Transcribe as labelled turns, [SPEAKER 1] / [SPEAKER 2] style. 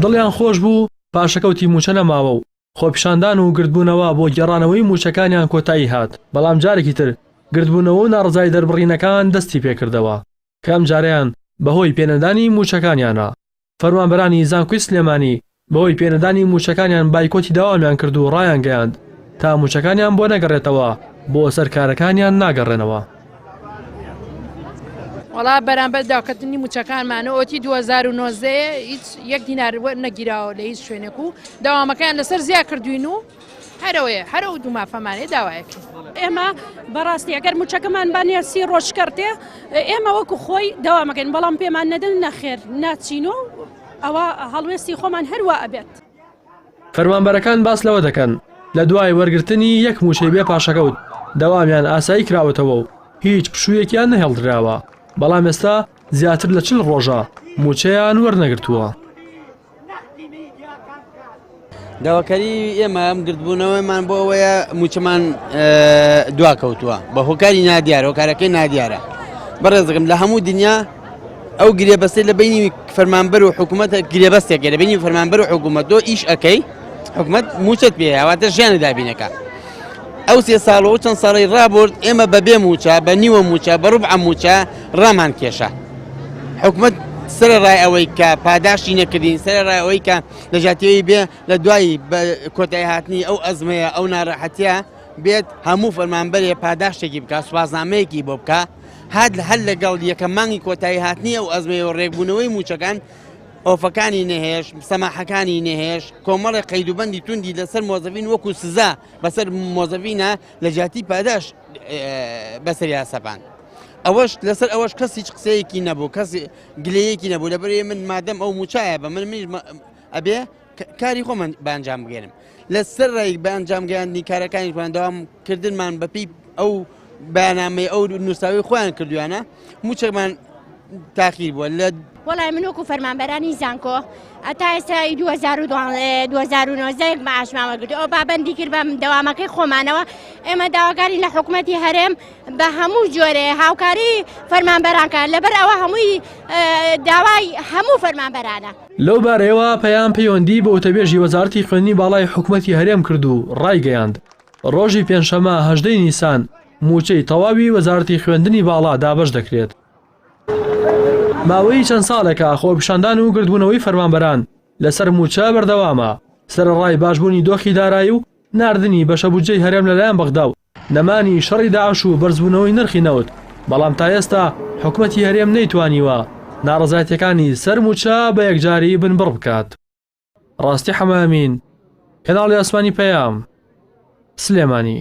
[SPEAKER 1] دڵیان خۆش بوو پاشەکەوتی مووچە نەماوە و خۆپیشاندان و گردبوونەوە بۆ گێڕانەوەی مووچەکانیان کۆتایی هات، بەڵام جارێکی تر گردبوونەوە و ناڕەزایی دەربڕینەکان دەستی پێکردەوە کە ئەمجارەیان بەهۆی پێنەدانی مووچەکانیانە. فەرمانبەرانی زانکۆی سلێمانی بەهۆی پێنەدانی مووچەکانیان بایکۆتی دەوامیان کرد و ڕایانگەیاند تا مووچەکانیان بۆ نەگەڕێتەوە بۆ سەر کارەکانیان ناگەڕێنەوە.
[SPEAKER 2] وڵا بەرامبەر داکردنی موچەکانمانە ئۆتی 2009 هیچ یەک دینار نەگیراوە لە هیچ شوێنێک و داوامەکان لەسەر زیا کردوین و هەرەوەیە هەرە و دوومافەمانێ داوایەکە ئێمە
[SPEAKER 3] بەڕاستی ئەگەر موچەکەمان بانە سی ڕۆژکردێ ئێمە وەکو خۆی داوامەکەن بەڵام پێمان نەدن نەخێر ناچین و ئەوە هەڵوێستی خۆمان هەروە ئەبێت. فەرمانبەرەکان
[SPEAKER 1] باس لەوە دەکەن، لە دوای وەرگرتنی یەک مووچەی بێ پاشەکەوت، دەوامیان ئاسایی کراوەتەوە و هیچ پشوویەکیان نەهێڵدراوە، بەڵام ئێستا زیاتر لە چل ڕۆژە مووچەیان وەرنەگرتووە.
[SPEAKER 4] داواکاریی ئێمە گردبوونەوەمان بۆ ئەوەیە مووچەمان دواکەوتووە بە هۆکاری نادیار، هۆکارەکەی نادیارە بەڕێزەکەم لە هەموو دنیا، ئەو گرێبەستی لە بینی فەرمانبەر و حکوومەت گرێبەستێک گەرە بینی فەرمانبەر و حکوومەت دۆ ئیش ئەەکەی حکوومەت موچەت پێیاواتە ژیانی دابینەکە ئەو سێ ساڵەوە چەند ساڵی ڕابرد ئێمە بەبێ موچە بە نیوە موچە بە ڕوب ئەموچە ڕامان کێشە حکوومەت سەر ڕای ئەوەی کە پاداشتی نەکردین سەر ڕای ئەوەی کە لەژاتیەوەی بێ لە دوایی کۆتای هاتنی ئەو ئەزمەیە ئەو ناڕەحەتە بێت هەموو فەرمانبەرێ پاداشتێکی بکە سوازنامەیەکی بۆ بکە هەر لەگەڵ یەکەم مانگی کۆتایی هاتنی ئەو ئەزمەیەوە ڕێکبوونەوەی مووچەکان، ئۆفەکانی نەهێشت، سەماحەکانی نەهێشت، کۆمەڵێک قەیدوبەندی توندی لەسەر مۆزەڤین وەکو سزا بەسەر مۆزەڤینا لە جیاتی پاداشت بەسەریا سەپاند. ئەوەش لەسەر ئەوەش کەس هیچ قسەیەکی نەبوو، کەس گلەیەکی نەبوو، لەبەرئەوەی من مادەم ئەو مووچایە بە من منیش ئەبێ، کاری خۆمان بە ئەنجام بگەێنم لە سەر ڕێک بە ئەنجام گەیاندنی کارەکانی بەندەوام کردنمان بەپی ئەو بەنامەی ئەو نووساوی خۆیان کردویانە موچەکمان تاخیر بووە لە وڵای من وەکو
[SPEAKER 5] فەرمانبەرانی زانکۆ ئەتا ئێستا 2012 معشمامە گرت ئەو پابندی کرد بەم دەوامەکەی خۆمانەوە ئێمە داواکاری لە حکوومەتتی هەرێم بە هەموو جۆرێ هاوکاری فەرمانبەرانکە لەبەر ئەوە هەمووی داوای هەموو فەرمانبەرانە لەو بارەیەوە
[SPEAKER 1] پەیام پەیوەندی بە وتەبێژی وەزارەتی خوێندنی باڵای حکوومەتی هەرێم کرد و ڕایگەیاند، ڕۆژی پێنجشەممە هەژدەی نیسان مووچەی تەواوی وەزارەتی خوێندنی باڵا دابەش دەکرێت. ماوەی چەند ساڵێکە خۆپیشاندان و گردبوونەوەی فەرمانبەران لەسەر مووچە بەردەوامە، سەرەڕای باشبوونی دۆخی دارایی و ناردنی بەشە بودجەی هەرێم لەلایەن بەغدا و نەمانی شەڕی داعش و بەرزبوونەوەی نرخی نەوت، بەڵام تا ئێستا حکومەتی هەرێم نەیتوانیوە ناڕەزایەتییەکانی سەر مووچە بە یەکجاری بنبڕ بکات. ڕاستی حەمەئەمین، کەناڵی ئاسمانی پەیام، سلێمانی.